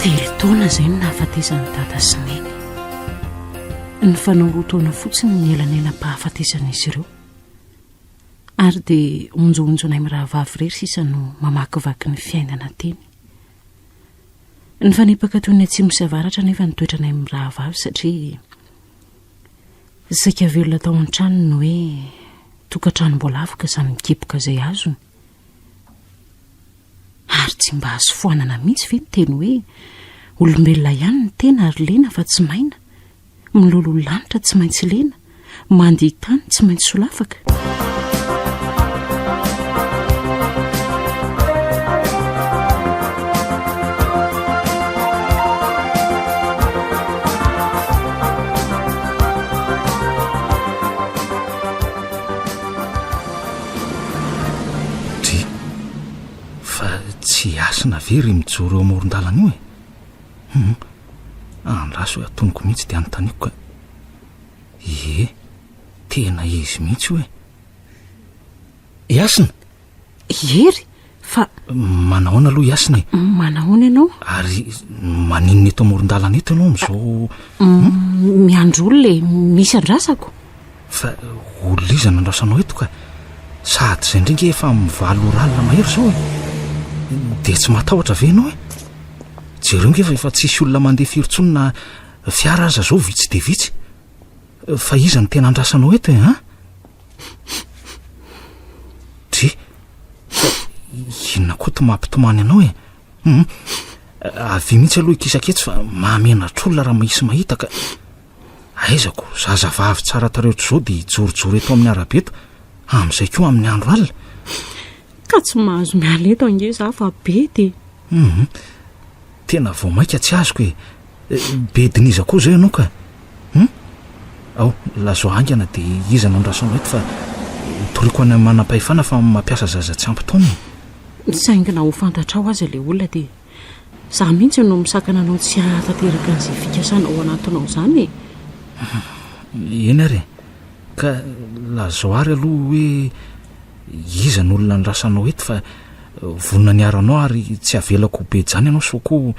Telo taona izay no nahafatesany dada sy neny. Nifanao roa taona fotsiny ny elanelam-pahafatesan'izy ireo. Ary dia onjohonjonay mirahavavy irery sisa no mamakivaky ny fiainana teny. Nifanipaka toy ny atsimo sy avaratra nefa ny toetranay mirahavavy satria saika velona tao an-trano ny hoe tokantranom-boalavoka izany mikiboka izay azony. Ary tsy mba azo foanana mihitsy ve ny teny hoe, Olombelona ihany ny tena ary lena fa tsy maina, miloloha lanitra tsy maintsy lena, mandia tany tsy maintsy solafaka? Dry, fa tsy hasina ve ry mijoro eo amoron-dalana io e? Hum, andraso hoe atonoko mihitsy dia anontaniako ka. Ie, tena izy mihitsy io e! I Hasina? I Hery? Fa manahoana aloha Yasina e? Manahoana ianao? Ary maninona eto amoron-dalana eto ianao amin'izao? Miandry olona e, misy andrasako. Fa olona iza no andrasanao eto ka? Sahady izay indray ange efa mivaly oral mahery izao e. Dia tsy matahotra ve ianao e? Jereo ange fa efa tsisy olona mandeha firy intsony na fiara aza izao vitsy dia vitsy. Fa iza no tena andrasanao eto e an? Dry, inona koa to mampitomany anao e? Hum, avia mihitsy aloha ikisaka etsy fa mahamenatr'olona raha mahisy mahita ka. Aizako, zazavavy tsara tareho otr'izao dia hijorojoro eto amin'ny arabe eto, amin'izay koa amin'ny andro alina. Ka tsy mahazo miala eto ange za fa be dia. Hum, tena vao maika tsy azoko e. Bedin'iza koa zao ianao ka? Hum? Ao, lazao haingana dia iza no andrasanao eto fa toriako any amin'ny manam-pahefana fa mampiasa zaza tsy ampy taona e! Saingy na ho fantatrao aza ilay olona dia izaho mihitsy no misakana anao tsy hahatanteraka an'izay fikasana ho anatinao izany e! Eny ary e! Ka lazao àry aloha hoe iza no olona andrasanao eto fa vonona ny hiaro anao ary tsy havelako ho be jany ianao sao koa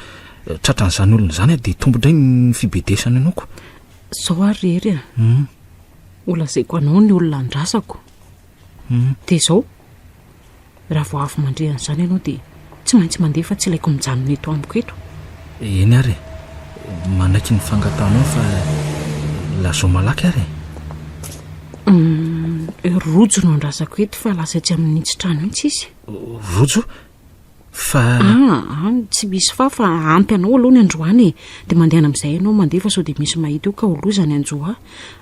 Tratran'izany olona izany a, dia tombo indray ny fibedesany anao ko. Zao ary ry Hery a, ho lazaiko anao ny olona andrasako. Dia izao, raha vao avy mandre an'izany ianao dia tsy maintsy mandeha fa tsy ilaiko mijanona eto amiko eto. Eny ary e, manaiky ny fangatahanao fa lazao malaky ary e. Rojo no andrasako eto fa lasa etsy amin'ny nintsy trano etsy izy. Rojo? fa ah, any tsy misy fa fa ampy anao aloha ny androany e dia mandehana amin'izay ianao mandeha fa sao dia misy mahita eo ka ho loza ny anjoa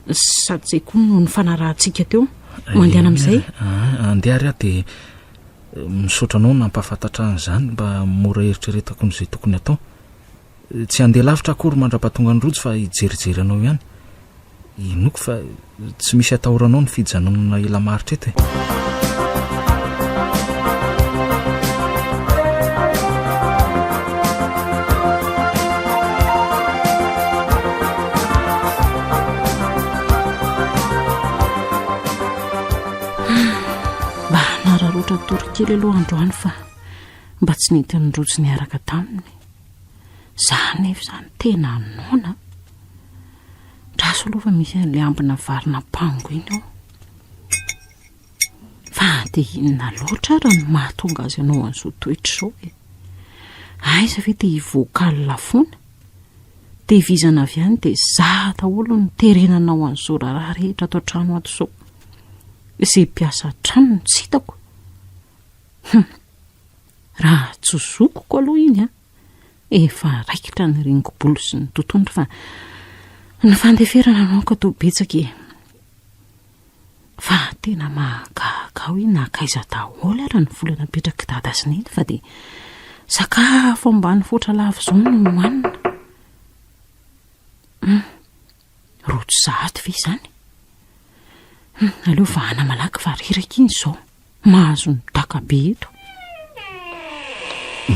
sady izay koa no ny fanarahantsika teo mandehana amin'izay ah, andeha ary aho dia eh, misaotra anao nampahafantatra an'izany mba mora eritreretako n'izay tokony atao Tsy handeha lavitra akory mandra-pahatonga an'i Rojo fa hijerijery anao ihany. Inoako fa tsy misy atahoranao ny fijanonana ela maharitra eto e. Mba hanararaotra tory kely aloha androany fa mba tsy nentin'i Rojo niaraka taminy. Za anefa izany tena noana. Andraso aloha fa misy an'ilay ambina vary nampango iny ao. Fa dia inona loatra ary no mahatonga azy hanao an'izao toetra izao e? Aiza ve dia hivoaka alina foana? Tevizana avy any dia za daholo no terena hanao an'izao raharaha rehetra ato an-trano ato izao. Izay mpiasa an-trano no tsy hitako. Hum. Raha tsy zokiko aloha iny an, efa raikitra ny ringobolo sy ny totohondry fa ny fandeferana no aoka toa betsaka e. Fa tena mahagaga aho hoe nankaiza daholo ary ny vola napetrak'i dada sy neny fa dia sakafo ambanivohitra lava izao no nohanina. Hum. Rojo sahady ve izany? Hum, aleo vahana malaky fa reraka iny izao. Mahazo ny daka be eto.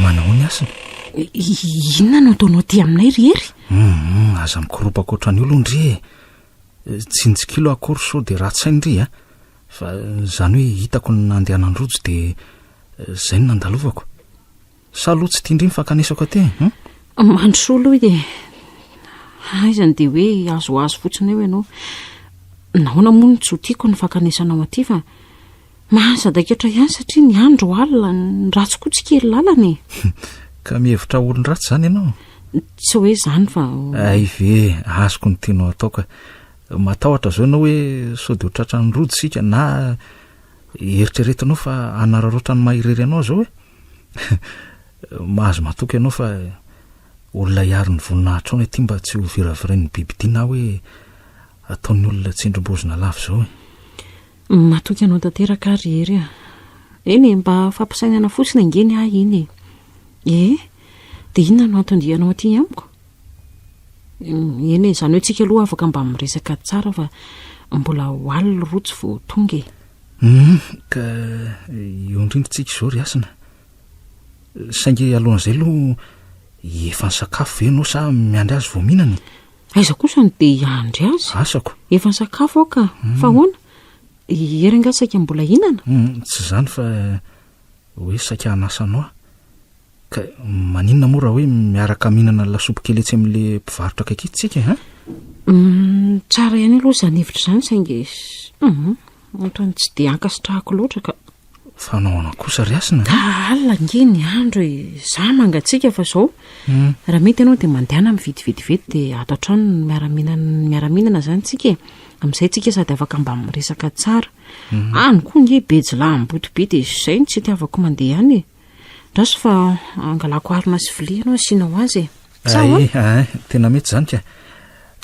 Manao ny asiny. Inona no ataonao aty aminay ry Hery? Hum, aza mikoropaka ohatran'ny olony ry e. Tsinjikilo akory sao dia ratsy saina ry a. Fa izany hoe hitako ny nandehanan'i Rojo dia izay no nandalovako. Sa aloha tsy tian-dry ny fankanesako aty e? Hum? Mandrosoa aloha e. Aizany dia hoe azoazo fotsiny eo ianao. Nahoana moa no tsy ho tiako ny fankanesanao aty fa mahasadaikatra ihany satria ny andro alina, ny ratsy koa tsy kely lalana e. Ka mihevitra ho olon-dratsy izany ianao? Tsy hoe izany fa... Hay ve, azoko ny tianao atao ka. Matahotra izao ianao hoe sao dia ho tratran'ny rojo isika na eritreretinao fa hanararaotra ny maha irery anao izao e? Mahazo matoky anao fa olona hiaro ny voninahitrao ny aty mba tsy ho viravirain'ny bibidia na hoe ataon'ny olona tsindrim-bozona lava izao e. Matoky anao tanteraka aho ry Hery a. Eny e, mba fampisainana fotsiny ange ny ahy iny e. Ee, dia inona no anton-dianao aty amiko? Eny e, izany hoe tsika aloha afaka mba miresaka tsara fa mbola ho alina roa tsy vao tonga e. Humm, ka eo indrindra tsika izao ry Hasina. Saingy alohan'izay aloha efa nisakafo ve ianao sa miandry azy vao mihinana e? Aiza kosa no dia hiandry azy? Asako. Efa nisakafo aho ka. Hmm. Fa ahoana? Hery angaha saika mbola hinana? Hmm, tsy izany fa hoe saika hanasa anao aho. Ka maninona moa raha hoe miaraka mihinana ny lasopy kely etsy amin'ilay mpivarotra akaiky etsy tsika an? Hum, tsara ihany aloha izany hevitra izany saingy hum, ohatran'ny tsy dia ankasitrahako loatra ka. Fa nahoana kosa ry Hasina? Ka alina ange ny andro e, izaho mangatsiaka fa izao. Hum. Raha mety ianao dia mandehana mividy vetivety dia ato an-trano no miara-mihinana ny miara-mihinana izany tsika e. Amin'izay tsika sady afaka mba miresaka tsara. Any koa ange Bejla Ambotobe dia izay no tsy itiavako mandeha any e. Andraso fa hangalako harona sy vilia ianao asiana ho azy e. Tsaho a. Eh, eh, tena mety izany ka.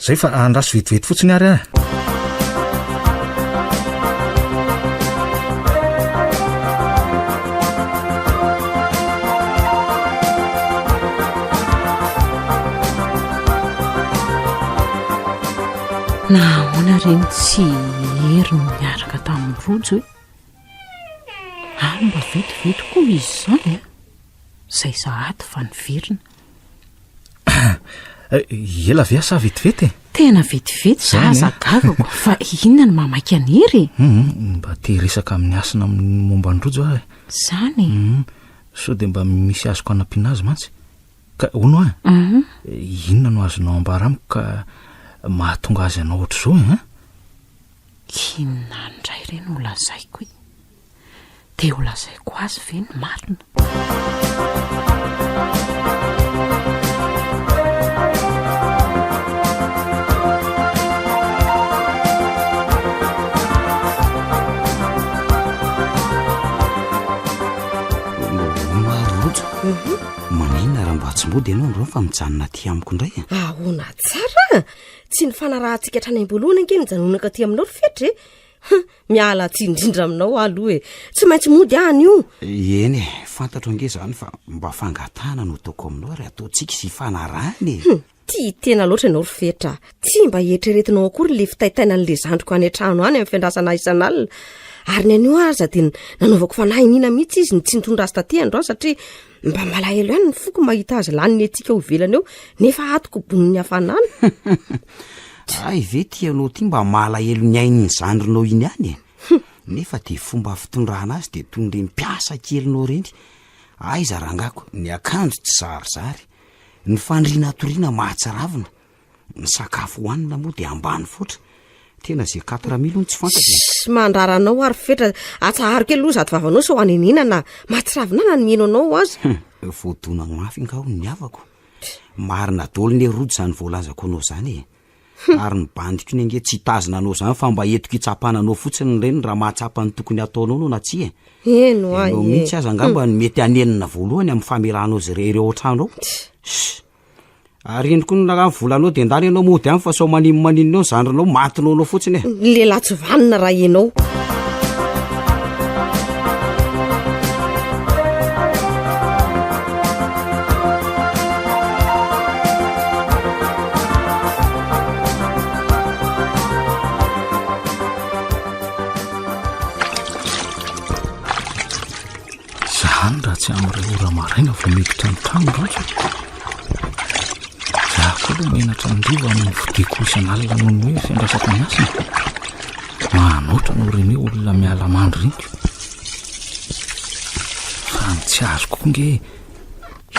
Izay fa andraso vetivety fotsiny ary ah. Na ahoana ireny tsy hery no niaraka tamin'ny rojo e. Ary mba vetivety koa izy izany an! Izay sahady fa niverina. Ela ve sa vetivety e? Tena vetivety za aza gagako fa inona no mamaika an'i Hery e? Hum, mba te hiresaka amin'i Hasina amin'ny momba an'i Rojo aho e. Izany e? Hum, sao dia mba misy azoko hanampiana azy mantsy. Ka hono an, Hum, inona no azonao ambara amiko ka mahatonga azy hanao ohatr'izao e? Inona indray re no lazaiko e? Dia ho lazaiko azy ve ny marina? Maninona raha mba tsy mody ianao androany fa mijanona aty amiko indray e? Ahoana tsara? Tsy ny fanarahantsika hatrany am-boalohany ange no hijanonako aty aminao ry Fetry e. Huh, miala tsiny indrindra aminao aho aloha e. Tsy maintsy mody aho anio. Eny e, fantatro ange izany fa mba fangatahana no ataoko aminao ary ataontsika hifanarahana e. Hum, tia tena loatra ianao ry Fetra. Tsy mba eritreretinao akory ilay fitaitaina an'ilay zandriko any an-trano any amin'ny fiandrasana ahy isan'alina. Ary ny anio aza dia nanaovako fanahy iniana mihitsy izy ny tsy nitondra azy taty androany satria Mba malahelo ihany ny foko mahita azy lany ny etsika ao ivelany eo nefa atoko bonin'ny hafanana. Ay ve ty ianao ty mba malahelo ny ain'ny zandrinao iny ihany e? Nefa dia fomba fitondrana azy dia toy ireny mpiasa kelinao ireny. Aiza rangako? Ny akanjo tsy zarizary, ny fandriana hatoriana mahatsiravina. Ny sakafo hohanina moa dia ambany foatra. Tena ze quatre mille hono tsy fantatra. E. Ssss mandrara anao ary fetra. Atsaharo kely aloha zato vavanao sao hanenenana. Mahatsiravinana ny mihaino anao aza. Hum, voadona mafy nga hono ny havako. Marina daholo ne Rojo zany voalazako anao zany e. Hum. Ary ny bandiko ne nge tsy hitazona anao zany fa mba entiko hitsapana anao fotsiny reny raha mahatsapa ny tokony hataonao anao na tsia e. Heno ahy e. Ianao mihitsy aza angamba no mety hanenina voalohany amin'ny famelanao ze reheireo ao an-trano ao. Ssss. Ary iny koa ny volanao dia ndany ianao mody any fa sao manin manin eo zandrinao matinao anao fotsiny e. Ny lehilahy tsy vanona raha ianao. Izany raha tsy amin'ny iray ora maraina vao miditra ny trano loatra. Izaho koa aloha menatra andivo amin'ny fodiako isan'alina noho ny hoe fiandrasako ny asany. Manoatra no rene olona miala mandry reniko. Fa ny tsy azoko koa nge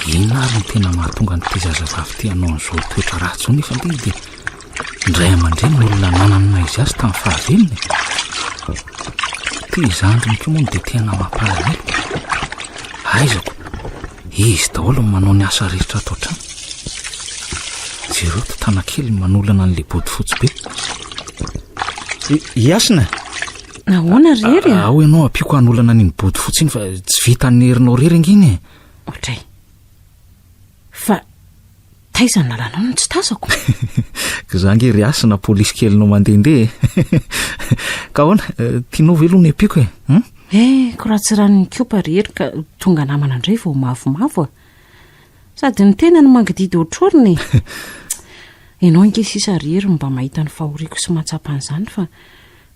Inona ary no tena mahatonga an'ity zazavavy ity hanao an'izao toetra ratsy izao nefa ilay izy dia ny ray aman-dreniny no olona nanana ny maha-izy azy tamin'ny fahavelony e? Ity zandriny ity moa no dia tena mampalahelo. Aizako, izy daholo no manao ny asa rehetra ato an-trano. Jereo ity tanakely no manolana an'ilay bodofotsy be. I- Iasina, Ahoana rery a? Ao ianao, ampiako hanolana an'iny bodofotsy iny fa tsy vitan'ny herinao rery ange iny e. Otray. Fa taiza ny lalanao no tsy tazako? Ka za nge ry hasina polisy kelinao mandehandeha e. Ka ahoana, eh, tianao ve aloha ny ampiako e? Hmm? Eh, koratsiran'ny kopa ry hery ka tonga namana indray vao mavomavo a. Sady ny tena no mangididy ohatrorina e. Ianao nge sisa ry hery mba mahita ny fahoriako sy mahatsapa an'izany fa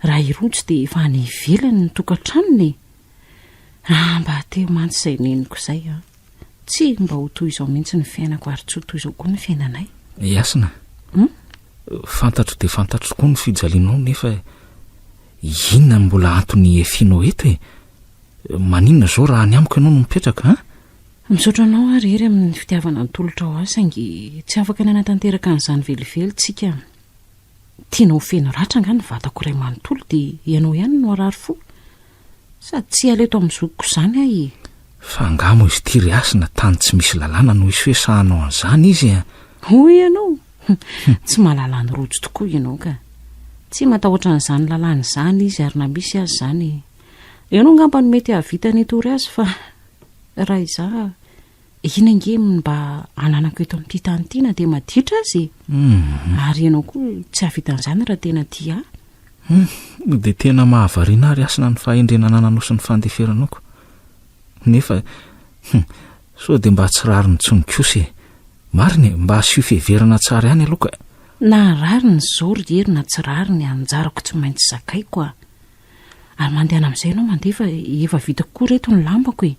raha i Rojo dia efa any ivelany ny tokantranony e. Raha mba hateo mantsy izay neniko izay an! Tsy mba ho toy izao mihitsy ny fiainako ary tsy ho toy izao koa ny fiainanay. I Hasina, hmm? fantatro dia fantatro tokoa ny fijalianao nefa inona no mbola antony hihefianao eto e? Maninona izao raha any amiko ianao no mipetraka an? Misaotra anao ary hery amin'ny fitiavana nitolotra ho ahy saingy tsy afaka nanatanteraka an'izany velively tsika. Tianao ho feno ratra angaha ny vatako iray manontolo dia ianao ihany no harary fo? Sady tsy hiala eto amin'ny zokiko izany aho e! Fa angaha moa izy ity ry Hasina tany tsy misy lalàna no hisy hoe sahy hanao an'izany izy e! Hoy ianao? Tsy mahalala ny rojo tokoa ianao ka! Tsy matahotra an'izany lalàna izany izy ary na misy aza izany, ianao angamba no mety hahavita ny hitory azy fa raha izaho, Iny ange ny mba ananako eto amin'ity tany ity na dia maditra aza e. Mhm. Ary ianao koa tsy hahavita an'izany raha tena tia ahy. Hmm, dia tena mahavariana ary asina ny fahendrena anananao sy ny fandeferanako. Nefa, hmm, sao dia mba tsy rariny intsony kosa e. Marina e, mba asio fiheverana tsara ihany aloha ka. Na rariny izao ry Hery na tsy rariny, anjarako tsy maintsy zakaiko aho. Ary mandehana amin'izay ianao mandeha fa efa vita kokoa ry reto ny lambako e!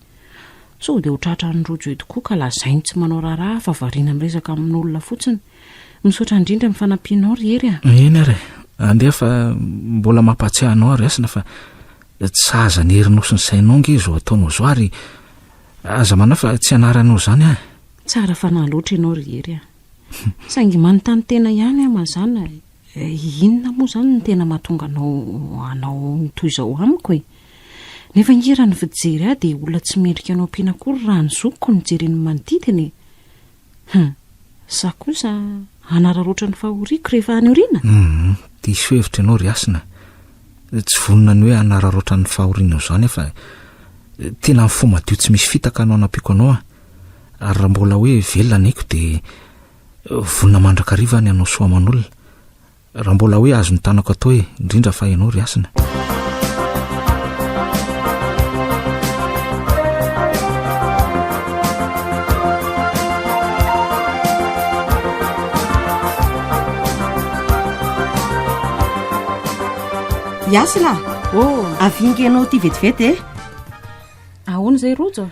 Sao dia ho tratran'i Rojo eto koa ka lazainy tsy manao raharaha fa variana miresaka amin'olona fotsiny. Misaotra indrindra amin'ny fanampianao ry Hery a! Eny ary e! Andeha fa mbola mampahatsiahy anao ary hasina fa tsy sahaza an'i Hery nosy ny sainao ange izao ataonao izao ary aza manahy fa tsy anaranao izany an! Tsara fanahy loatra ianao ry Hery a! Saingy manontany tena ihany aho mazàna e! Inona moa izany no tena mahatonga anao hanao ny toy izao amiko e? Nefa ange raha ny fijery ahy dia olona tsy mendrika anao ampiana akory raha ny zokiko no jerena ny manodidina e! Hum! Sa kosa hanararaotra ny fahoriako rehefa any aoriana? Hum! Diso hevitra ianao ry Hasina. Tsy vonona ny hoe hanararaotra ny fahorianao izany aho fa tena amin'ny fo madio tsy misy fitaka no hanampiako anao aho. Ary raha mbola hoe velona ny aiko dia Vonona mandrakariva ny hanao soa aman'olona. Raha mbola hoe azo ny tanako atao e, indrindra fa ianao ry hasina. Yasina, oh, avinga ianao ty vetivety e. Ahoana izay Rojo?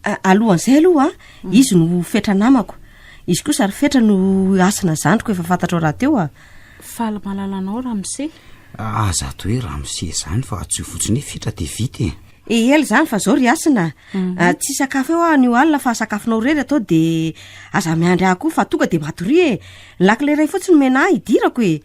Alohan'izay aloha, izy no fetra namako. Izy kosa ry fetra no hasina zandriko efa fantatrao rahateo a. Faly mahalala anao Ramose. Aza ato hoe Ramose izany fa tsy io fotsiny hoe fetra dia vita e. Eely zany fa zao ry hasina. Mhm. Ah, tsy sakafo eo aho anio alina fa sakafonao irery atao dia aza miandry ahy koa fa tonga dia matoria e. Ny lakile iray fotsiny omena ahy hidirako e.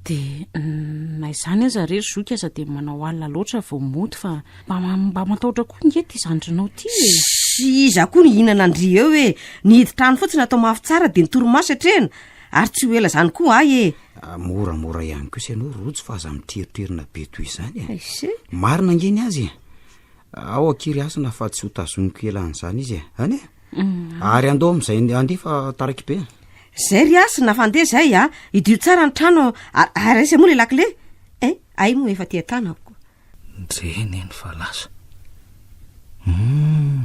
Dia na izany aza re ry zoky aza dia manao alina loatra vao mody fa mba matahotra koa nge ity zandrinao ity e. Sy iza koa no hihinana an-dry eo e. Ny hidin-trano fotsiny atao mafy tsara dia ny torimaso atrehina. Ary tsy ho ela izany koa hay e. Ah, moramora ihany kosa ianao Rojo fa aza miteriterina be toy izany e. Aise. Marina nge ny azy e. Ao an-kiry hasina fa tsy hotazoniko ela an'izany izy e. Anie? ary andao am'izay andefa taraky be zay ry asy na fandeha zay a idio tsara ny trano ary aiza moa le lakile e eh, ay moa efa tia tanako dreny eny fa lasa hmm.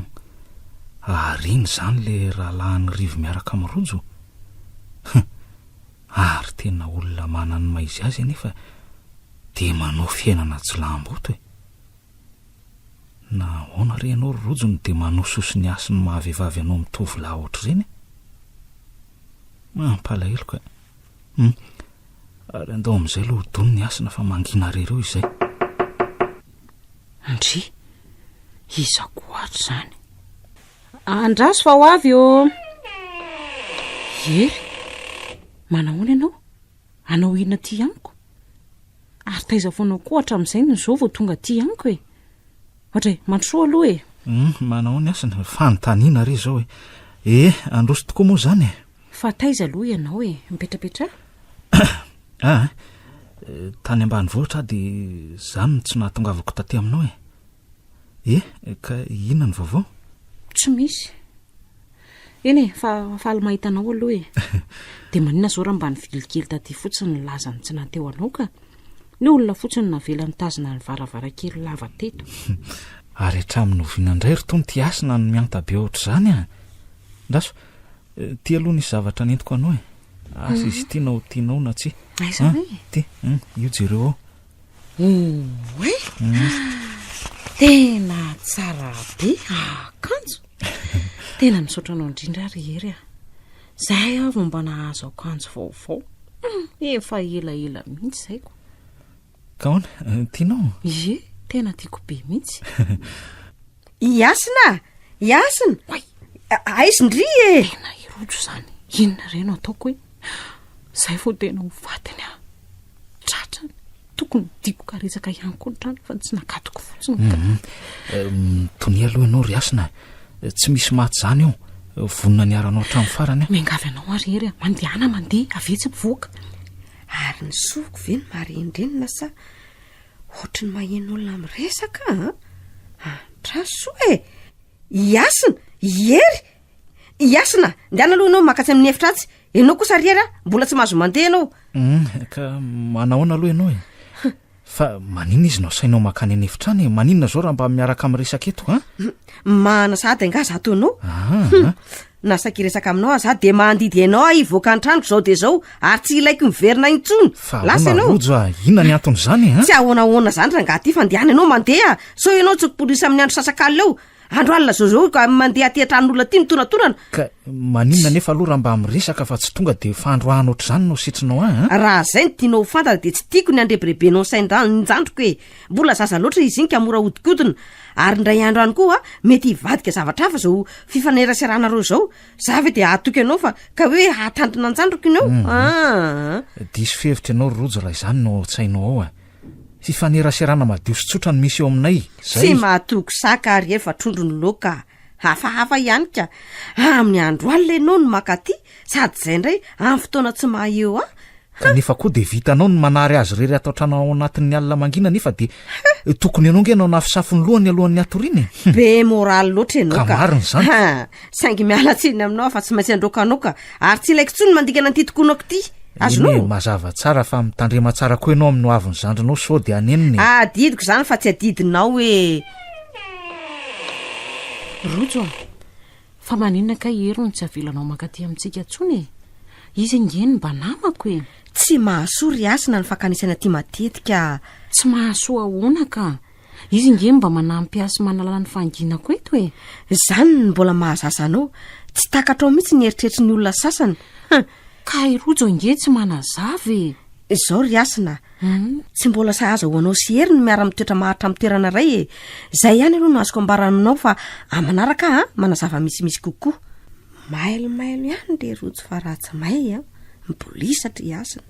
ary iny zany le rahalahan'ny rivo miaraka amin'ny rojo ary tena olona manany maizy azy anefa de manao fiainana tsy lamboto e Na ahoana re ianao ry Rojo no dia manososo ny hasin'ny maha vehivavy anao mitovy lahy ohatr'ireny e! Mampalahelo kay! Hum! ary andao amin'izay aloha ho dony ny hasina fa mangina re ireo izay! Ndry! iza koa ary izany? Andraso fa ho avy ô! Hery! manahoana ianao? Hanao inona aty amiko? Ary taiza foana koa hatramin'izay no izao vao tonga aty amiko e? Adray, mandrosoa aloha e! Humm, manao ny asany, fanontaniana re izao e! Ee, handroso tokoa moa izany e! Fa taiza aloha ianao e? Mipetrapetraha? Ah, tany ambanivohitra aho dia izany no tsy nahatongavako taty aminao e! Eh, ka inona ny vaovao? Tsy misy. Eny e, fa faly mahita anao aloha e. Dia maninona izao raha mba nivily kely taty fotsiny ny lazan'ny tsy nahateo anao ka? Ny hoe olona fotsiny no navela nitazona ny varavarankely lava teto. Ary hatramin'ny oviana indray ry Tony ity hasina no mihanta be ohatr'izany an? Ndaso, eh, ity aloha nisy zavatra nentiko anao e. Asa izy ity na ho tianao na tsia. Aiza hoe? Ity, io jereo ao. Oay! Tena tsara be akanjo. Tena misaotra anao indrindra ry Hery a. Zay aho vao mba nahazo akanjo vaovao. Hmm, efa ela ela mihitsy zay ko. Kaona, eh, tianao? Ye, tena tiako be mihitsy. I Hasina a! I Hasina! Oay! Aiz ndry e! Tena hirojo izany, inona re no ataoko e! Izay vao tena ho fatiny aho. Tratrany, tokony diko karetsaka ihany koa ny trano fa tsy nakatoko fotsiny ka. Mitonia aloha ianao ry Hasina, tsy misy maty izany eo. Vonona ny haranao hatramin'ny farany aho. Miangavy anao ary hery a! Mandehana mandeha, avy etsy mivoaka. Ary ny soko ve no marin-drenina sa? Ohatry ny maheno olona miresaka an! Andraso e! I Hasina! I Hery! I Hasina, ndehana aloha ianao maka tsy amin'ny efitra atsy. Ianao kosa ry Hery, mbola tsy mahazo mandeha ianao. Hum, ka manahoana aloha ianao e? Fa maninona izy no asainao makany any efitra any e? Maninona izao raha mba miaraka miresaka eto an? Mahana sahady angaha izaho toa anao? Ah, Na saika hiresaka aminao aza aho dia mandidy enao aho hivoaka an-tranoko izao dia izao ary tsy ilaiko miverina intsony. Fa ahoana Lasa ianao. Rojo a? Inona ny anton'izany a? Tsy ahoanahoana izany rangaha ty fa ndehana ianao mandeha sao ianao tsy mipolisy amin'ny andro sasak'alina eo. Andro alina zao zao ka mandeha aty an-tranon'olona aty mitonatonana. Ka maninona anefa aloha raha mba miresaka fa tsy tonga dia fandroahana ohatr'izany no sitrinao ahy a? Raha izay no tianao ho fantatra dia tsy tiako ny handrebirebenao ny sain-dra- ny zandriko e. Mbola zaza loatra izy iny ka mora ahodikodina. Ary indray andro any koa mety hivadika zavatra hafa zao fifaneraseranareo zao, za ve de hahatoky anao fa ka hoe hahatantona an-tsandriko iny eo mhm. aa. Diso fihevitra ianao ry Rojo raha izany no ao an-tsainao ao a. Fifaneraserana madio sy tsotra no misy eo aminay, zay. Tsy mahatoky saka ary efa trondro ny loka hafahafa ihany ka. Amin'ny andro alina ianao no makaty Sady zay ndray am fotoana tsy maha eo an! Ka nefa koa dia vitanao ny manary azy irery ato an-trano ao anatin'ny alina mangina nefa dia tokony ianao nge no hanafosafo ny lohany alohan'ny hatoriana e! Be moraly loatra ianao ka! Ka marina izany! Ha! Saingy miala tsiny aminao aho fa tsy maintsy androaka anao ka! Ary tsy ilaiko intsony ny mandingana an'ity tokonako ity! Azonao? Eny e, mazava tsara fa mitandrema tsara koa ianao amin'ny hoavin'ny zandrinao sao dia hanenina e! Adidiko izany fa tsy adidinao e! Rojo a! Fa maninona kay i Hery no tsy avelanao mankaty amintsika intsony e? Izy ange no mba namako e! Tsy mahasoa ry Hasina ny fankanesana aty matetika. Tsy mahasoa ahoana ka? Izy ange no mba manampy ahy sy manalana ny fahanginako eto e! Izany no mbola mahazaza anao, tsy takatrao mihitsy ny eritreritry ny olona sasany. Ka i Rojo ange tsy manazava e! Izao ry Hasina a, tsy mbola sahaza ho anao sy Hery ny miara-mitoetra maharitra amin'ny toerana iray e! Izay ihany aloha no azoko ambara aminao fa amin'ny manaraka aho manazava misimisy kokoa. Mailomailo ihany ry Rojo fa raha tsy may an! Mibolisatra i Hasina.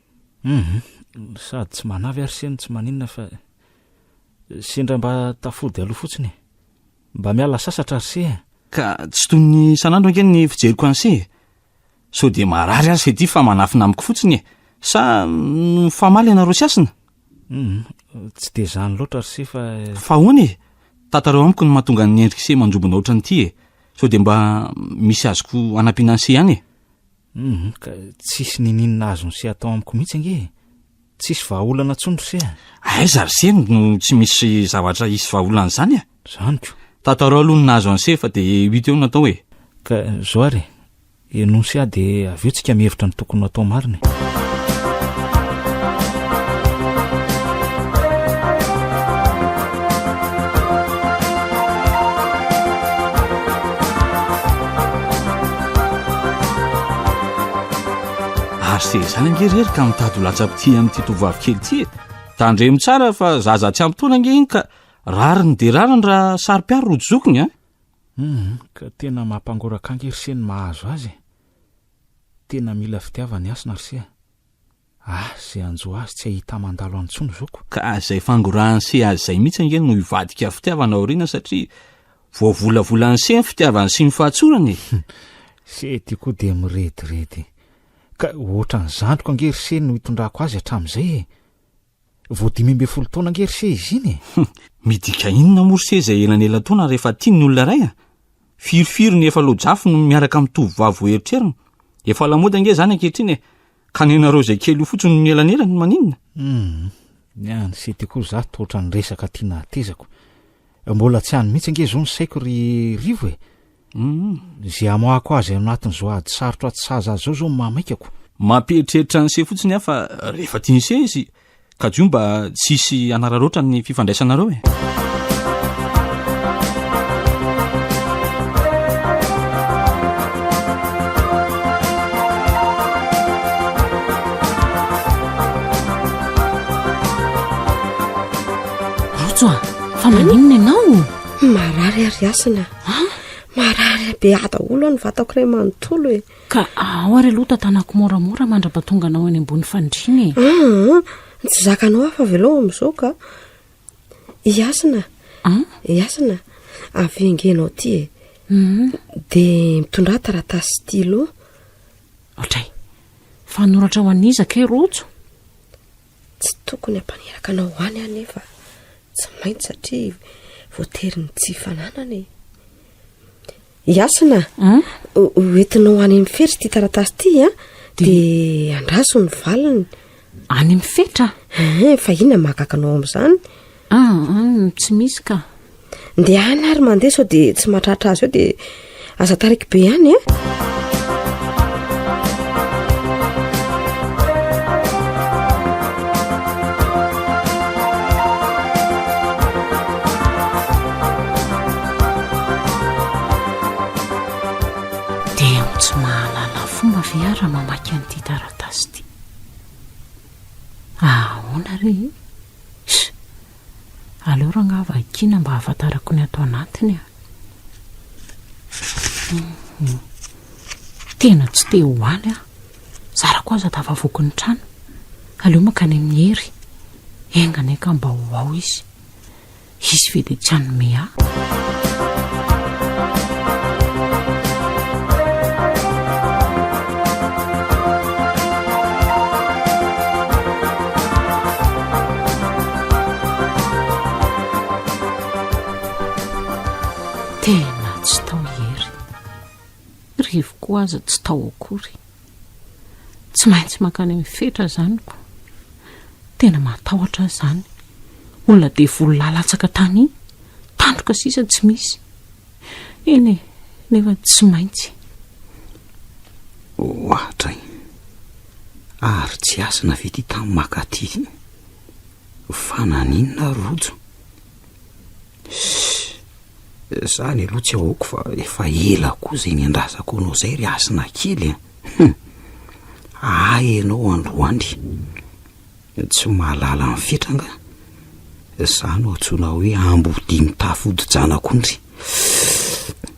Humm sady tsy manavy ary seno tsy maninona fa sendra mba tafody aloha fotsiny e! Mba miala sasatra ry se a! Ka tsy toy ny isan'andro ange ny fijeriko an'i se e! Sao dia marary aza ity fa manafina amiko fotsiny e! Sa mifamaly ianareo sy hasina? Humm tsy dia izany loatra ry se fa. Fa ahoana e! Tantarao amiko ny mahatonga ny endrik'i se manjobona ohatran'ity e! Sao dia mba misy azoko hanampiana an'i se ihany e! Humm, ka tsisy niniana azo nise atao amiko mihitsy ange e! Tsisy vahaolana tsony ry se a! Aiza ry se no tsy misy zavatra hisy vahaolana izany a! Zany ko! Tantaro aloha ny nahazo an'ise fa dia huit eo no atao e! Ka zao ary e! Henoy se aho dia avy eo tsika mihevitra ny tokony ho atao marina e! Ary se izany ange rery ka mitady ho latsa-pitia amin'ity tovovavy kely ity e. Tandremo tsara fa zaza tsy ampy taona ange iny ka rariny dia rariny raha saro-piaro rojo zokiny a. Hum, ka tena mampangoraka ange ry se ny mahazo azy e. Tena mila fitiavana i Hasina ry se a. Ah, zay hanjo azy tsy ahita mandalo any tsony zoky. Ka zay fangorahany se azy zay mitsy ange no hivadika fitiavana aoriana satria voavolavolany se ny fitiavany sy ny fahatsorany e! Se ty koa dia mirediredy. Ka ohatran'ny zandriko ange ry se no hitondrako azy hatramin'izay e! Vao dimy ambin'ny folo taona ange ry se izy iny e! Midika inona moa ry se izay elanelataona rehefa tiany ny olona iray a! Firifiry ny efa lojafy no miaraka amin'ny tovovavy voaeritrerina. Efa lamaody ange izany ankehitriny e! Ka nenareo izay kely io fotsiny no nielanelany maninona? Hum, ny an'i Sity koa za toa ohatran'ny resaka tiana hatezako. Mbola tsy any mihitsy ange izao ny saiko ry Rivo e. Hum. Izay hamoahako azy ao anatin'izao ady sarotra atsy sahaza azy izao izao no mahamaikako. Mampieritreritra an'ise fotsiny aho fa rehefa tian'ise izy Kajo mba tsy hisy hanararaotra ny fifandraisanareo e. Rojo a, fa maninona ianao? Marary ary asina. Marary be daholo ny vatako iray manontolo e. Ka ao ary aloha tantanako moramora mandrapatonga anao eny ambony fandriana e! Aa! Tsy zakanao aho fa avelao amin'izao ka! I Hasina! An? I Hasina! Avy engenao aty e! Hum! Dia mitondrà taratasy sy stylo. Otray! Fanoratra ho an'iza kay Rojo? Tsy tokony hampaniraka anao ho any aho nefa tsy maintsy satria voatery ny tsy fananana e. Iasina, hoentinao any amin'ny fetra ity taratasy ity a, dia andraso ny valiny. Any amin'ny fetra? Eh, fa inona mahagaga anao amin'izany? Aahh tsy misy ka. Ndehana ary mandeha sao dia tsy mahatratra azy eo dia aza taraiky be ihany a. Dia ianao tsy mahalala fomba ve ary raha mamaky an'ity taratasy ity. Ahaona re e? Sh! Aleo rangaha vakiana mba hahafantarako ny ato anatiny a! Tena tsy te ho any aho. Zarako aza tafavoaky ny trano. Aleo mankany amin'i Hery. Enga anie ka mba ho ao izy. hisy ve dia tsy hanome ahy tena tsy tao hery revoko aza tsy tao akory Tsy maintsy mankany amin'ny fetra izany ko. Tena matahotra aho izany. Olona devoly lalantsaka tany, tandroka sisa tsy misy. Eny e, nefa tsy maintsy. Ohatray. Ary tsy asina ve ty tany maka aty? Fa naninona Rojo? Zany aloha tsy aoko fa efa ela koa zay niandrazako anao zay ry asina kely a. Hum. Ahy ianao androany. Tsy mahalala ny fetra nga. Za no antsoina hoe ambodia mitafy odi-janak'ondry.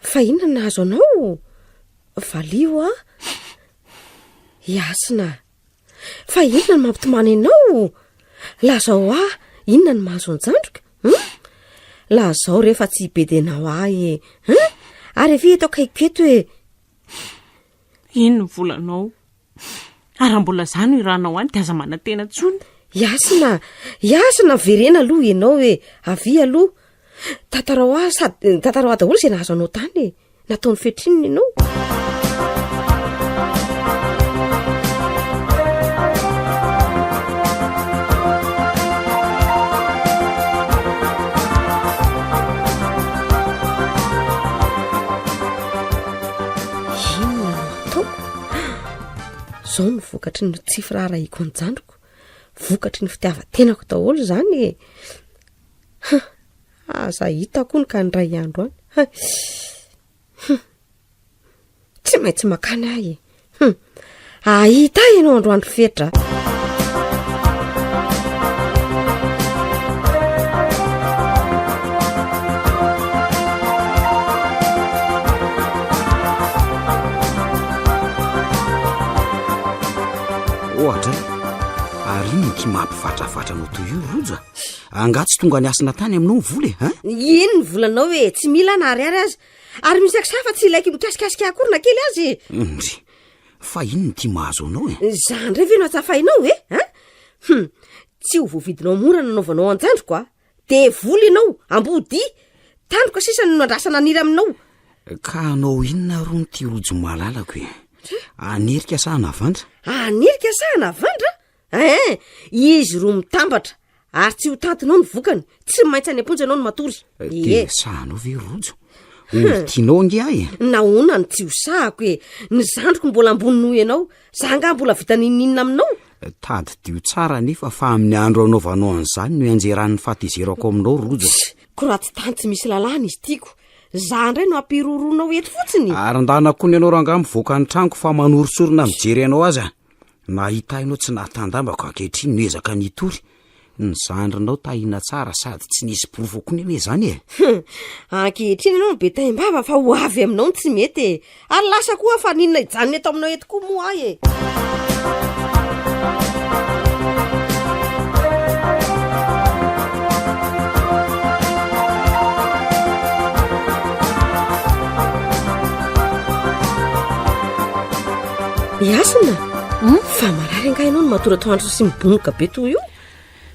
Fa inona no nahazo anao? Valio a! Iasina. Fa inona no mampitomany anao? Lazao a! Inona no mahazo an-jandriko? Hum? Lazao rehefa tsy hibedenao ahy e! Hum? Ary efe eto akaiko eto e! Ino ny volanao? Ary raha mbola za no iranao any de aza manantena tsony. Yasina, Yasina miverena aloha ianao e, avia aloha. Tantarao ahy sady tantarao ahy daholo izay nahazo anao tany e. Nataony fetrinina ianao. Inona no ataoko? Izao no vokatry ny tsy firaharahiako an-jandriko. Vokatry ny fitiavan-tenako daholo izany e. Ha, aza hitako hono ka indray andro any. Ha, tsy maintsy makany ahy e. Hum, ahita ianao androandro fetra. ohatra eh? ary ino ty mampivatrafatra anao toy io roja angaha tsy tonga ny asina tany aminao ny vola e eh? ha ino ny volanao e tsy mila na ariary aza Ary misy aksy hafa tsy ilaiko mikasikasika akory na kely azy e. Ondry, fa inona ity mahazo anao e? Zany indray ve no atsafainao e? Hein? Hum, tsy ho voavidinao mora nanaovanao anjandriko a. Devoly ianao, ambodia. Tandroka sisa no nandrasana nira aminao. Ka hanao inona ary hono ity rojo malalako e? Anirika sa hanavandra? Anirika sa hanavandra? Eeh! Izy roa mitambatra ary tsy ho tantinao ny vokany, tsy maintsy any am-ponja ianao no matory. Ehe. Te hosahanao ve Rojo? Olo tianao ange ahy e! Nahoana no tsy hosahako e? Ny zandriko mbola ambony noho ianao, za angaha mbola vita n'inon'inona aminao? Tadidio tsara anefa fa amin'ny andro anaovanao an'izany no ianjeran'ny fahatezerako aminao Rojo. Tssy! Koraty tany tsy misy lalàna izy tiako. Za indray no ampiroroanao eto fotsiny. Ary ndana koa ny anao rangaha mivoaka ny tranoko fa manoritsorina mijery anao aza. Nahitainao tsy nahatandambako ankehitriny no ezaka nitory ny zandrinao tahina tsara sady tsy nisy porofo akory anie izany e! Ankehitriny ianao no be taim-bava fa ho avy aminao ny tsy mety e! Ary lasa koa aho fa n'inona hijanona eto aminao eto koa moa aho e! Yasina, hmm? fa marary angaha ianao no matory atoandro sy mibonoka be toy io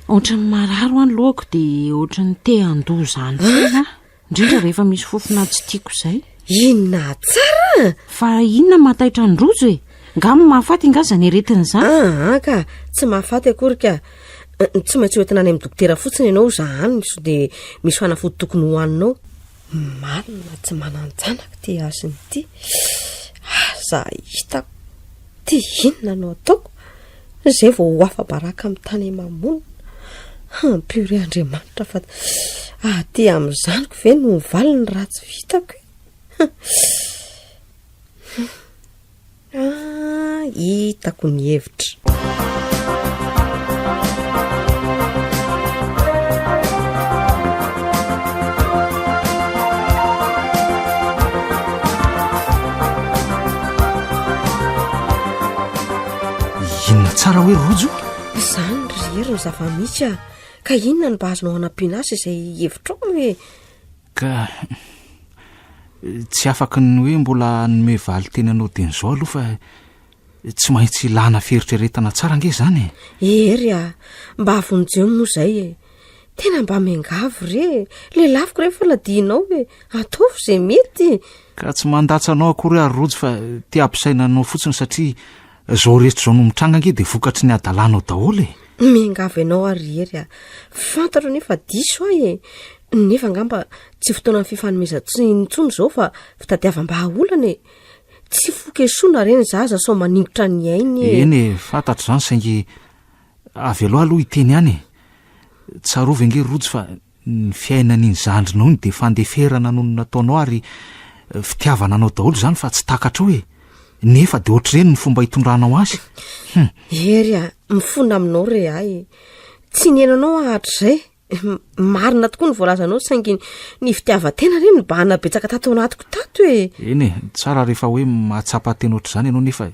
ohatrany marary ho any lohako dia ohatrany te handoa izany foana ah? indrindra rehefa misy fofona tsy tiako izay inona tsara fa inona mataitra ny rojo e nga mo mahafaty inga zany aretina izany aa ah, ah, ka tsy mahafaty akory ka eh, tsy maintsy hoetina any amin'ny dokotera fotsiny ianao zahany so dia misy fanafody tokony hohaninao Marina tsy manan-janaka ity hasina ity. Aza hitako. Ty inona no ataoko? Izay vao ho afa-baraka amin'ny tany aman-monina. Ampio re Andriamanitra fa aty amin'ny zanako ve no mivaly ny ratsy vitako e. Ah, hitako ny hevitra. Inona tsara hoe rojo? Izany ry hery ny zava-misy ah. Ka inona no mba azonao hanampiana azy izay hevitrao hoe Ka tsy afaka ny hoe mbola hanome valin-teny anao teny izao aloha fa tsy maintsy ilana fieritreretana tsara ange izany e. Ery a, mba avonjeo moa izay e. Tena mba miangavy re, lelafiko re fa ladianao e, ataovy izay mety. Ka tsy mandatsa anao akory ary Rojo fa te hampisaina anao fotsiny satria Zao rehetra zao no mitranga ange de vokatry ny adalanao daholo e. Miangavy ianao ary ry Hery a. Fantatro anie fa diso ahy e. Nefa angamba tsy fotoanan'ny fifanomezan-tsiny intsony zao fa fitadiavam-bahaolana e. Tsy fokesoana re ny zaza sao maningotra ny ainy e. Eny e, fantatro zany saingy avy aloha aloha hiteny ihany e. Tsarovy ange ry Rojo fa Ny fiainany iny zandrinao iny dia fandeferana noho ny nataonao ary fitiavana anao daholo izany fa tsy takatrao e! Nefa dia ohatr'ireny ny fomba hitondranao azy. Hum. Hery a! Mifona aminao re ahy. Tsy niheno anao aho hatrizay. Marina tokoa ny voalazanao saingy ny fitiavan-tena re nibahana betsaka tato anatiko tato e! Eny e, tsara rehefa hoe mahatsapa tena ohatr'izany ianao nefa e!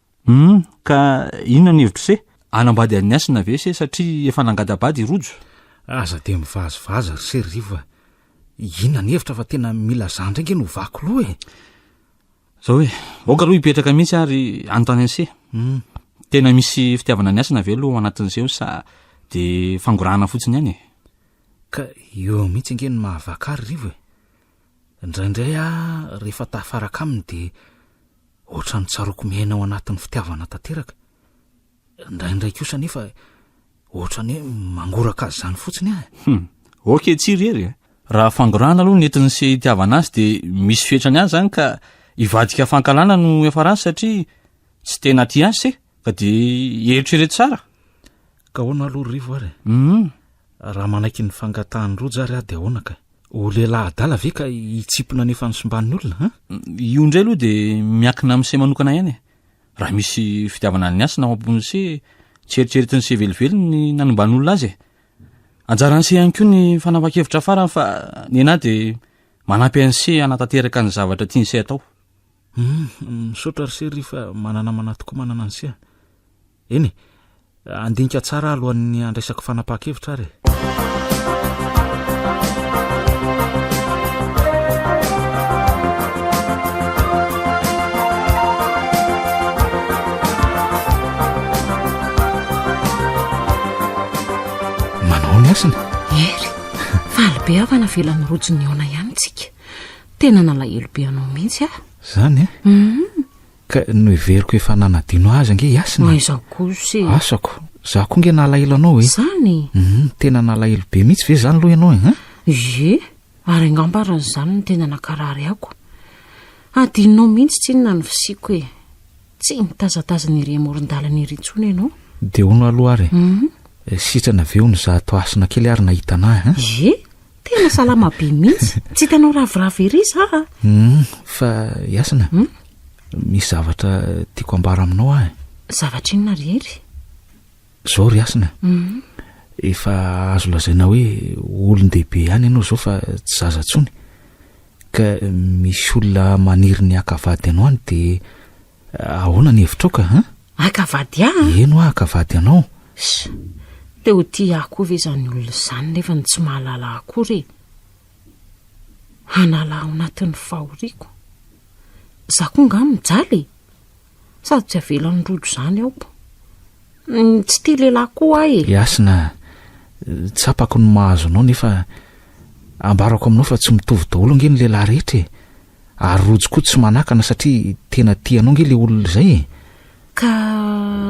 Humm ka inona ny hevitro se? Hanambady an'i Hasina ve se satria efa nangada-bady i Rojo? Aza dia mivazivazy ry se ry fa inona ny hevitra fa tena mila za indray nge no vaky loha e! Zao hoe, aoka aloha hipetraka mihitsy ary anontany an'i se, tena misy fitiavana an'i Hasina ve aloha ao anatin'i se eo sa dia fangorahana fotsiny ihany e? Ka eo mihitsy ange ny mahavaky ahy ry Rivo e! Indraindray aho rehefa tafaraka aminy dia ohatran'ny tsaroako miaina ao anatin'ny fitiavana tanteraka. Indraindray kosa anefa ohatran'ny hoe mangoraka azy izany fotsiny aho. Hum, ok tsy irery e. Raha fangorahana aloha ny entiny sy itiavana azy dia misy fetrany any izany ka hivadika fankahalana no hiafarany satria tsy tena tia azy se ka dia eritrereto tsara. Ka ahoana aloha ry Rivo ary? Hum. Raha manaiky ny fangatahan'i Roja ary aho dia ahoana kay? Ho lehilahy adala ve ka hitsimpona ny efa nosimbanin'olona an? Io indray aloha dia miankina amin'ny se manokana ihany e. Raha misy fitiavana ny asa na ao am-pon'ny se, tsy eritreretin'ny se velively ny nanomban'olona azy e. Anjaran'ny se ihany koa ny fanapan-kevitra farany fa ny ahy dia manampy an'ny se hanatanteraka ny zavatra tian'ny se atao. Hum, misaotra ry se ry fa mananamana tokoa manana ny se. Eny e, handinika tsara aho alohan'ny handraisako fanapahan-kevitra ary e. Manao ny asiny. Hery, faly be aho fa navelan'ny rojo nihaona ihany tsika. Tena nalahelo be anao mihitsy aho. Zany e? Hum. Ka noheveriko efa nanadino azy ange i Hasina e. Aiza kosa e. Asako. Za koa nge nalahelo anao e. Zany e. Hum, tena nalahelo be mihitsy ve zany lo ianao e, hein? Ie, ary angamba ary izany no tena nakarary ako. Adinonao mihitsy tsinona ny fisiako e. Tsy nitazatazana ery amoron-dalana ery intsony ianao. Dia hono aloha ary e. Hum. Eh, sitrana ve hono za ato Hasina kely ary nahita anah, hein? Ie. Tena salama be mihitsy. Tsy hitanao ravoravo ery za a. Hum, fa Yasina. Hum? Misy zavatra tiako ambara aminao ahy. Zavatra inona ry Hery? Zao ry Yasina. Hum. Efa azo lazaina hoe olon-dehibe ihany ianao zao fa tsy zaza tsony. Ka misy olona maniry ny haka vady anao any dia Ahoana ny hevitrao ka an? Haka vady ahy an? Eny hoa haka vady anao. Sha! Te ho tia ahy koa ve izany olona izany nefa ny tsy mahalala ahy akory e! Hanala ahy ao anatin'ny fahoriako. Izaho koa angaha mijaly e! Sady tsy avelan'ny rojo izany aoko. Tsy tia lehilahy koa aho e! Hasina, tsapako ny mahazo anao nefa ambarako aminao fa tsy mitovy daholo ange ny lehilahy rehetra e! Ary rojo koa tsy manakana satria tena tia anao nge le olona izay e! Ka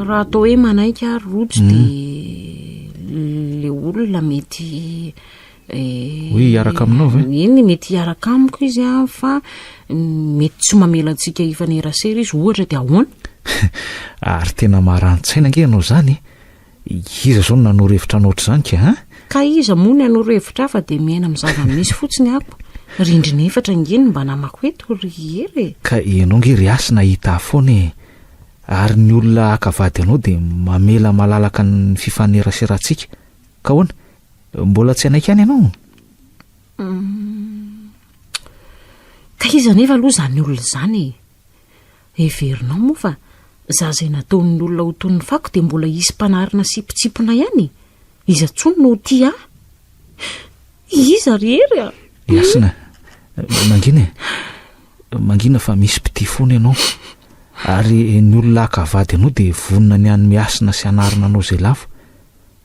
raha atao hoe manaiky ary rojo dia hmm. le olona mety eh, hoe hiaraka aminao ve? Eny mety hiaraka amiko izy a fa mety tsy mamela antsika hifanerasera izy ohatra dia ahoana? Ary tena marantsaina nge ianao izany e! Iza zao no nanoro hevitra hanao ohatr'izany ka a? Ka iza moa ny hanoro hevitra afa dia miaina amin'ny zava-misy fotsiny aho. Rindrina efatra ange no mba namako eto ry Hery e! Ka ianao ange ry Hasina hahita ahy foana e! Ary ny olona haka vady anao dia mamela malalaka ny fifaneraserantsika. Ka ahoana? Mbola tsy hanaiky any ianao? Ka iza anefa aloha izany olona izany e? Heverinao moa fa za zay nataon'ny olona ho toy ny fako dia mbola hisy mpanarina sy mpitsipona ihany e? Iza tsony no ho tia ahy? Iza ry Hery a? Ny Hasina, mangina e! Mangina fa misy mpitia foana ianao. Ary ny olona haka vady anao dia vonona ny hanome hasina sy hanarina anao izay lavo.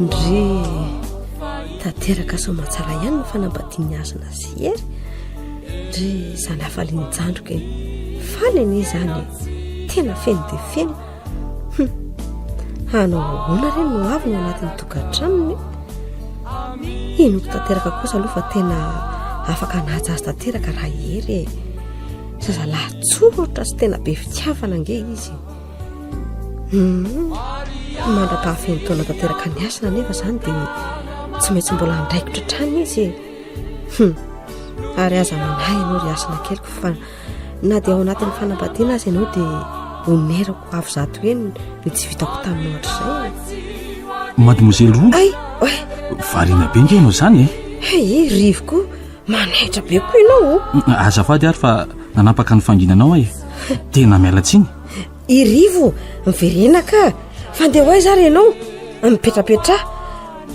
ndry tanteraka somatsara ihany ny fanambadian'ny azona sy ery ndry zany afalianjandroka e fany anie zany tena feno de feno Humm. Hanao ahoana re no avy ny anatin'ny tokantranony? Henoko tanteraka kosa aloha fa tena afaka hanaja azy tanteraka raha i Hery e. Zazalahy tsoratra sy tena be fitiavana ange izy. Humm. Mandra-pahafeno taona tanteraka ny asina nefa izany dia tsy maintsy mbola handraikitra hatrany izy e. Humm. Ary aza manahy ianao ry asina keliko fa Na dia ao anatin'ny fanambadiana aza ianao dia omerako avo zato heny ny tsy vitako taminao hatrizay. Mademoiselle Roux. Ay, oe. Variana be nge ianao izany e. Hey, rivo koa manaitra be koa ianao. Azafady ary fa nanampaka ny fanginanao aho e. Tena miala tsiny. I Rivo, miverena ka! Fa ndeha ho aiza ary ianao? Mipetrapetraha.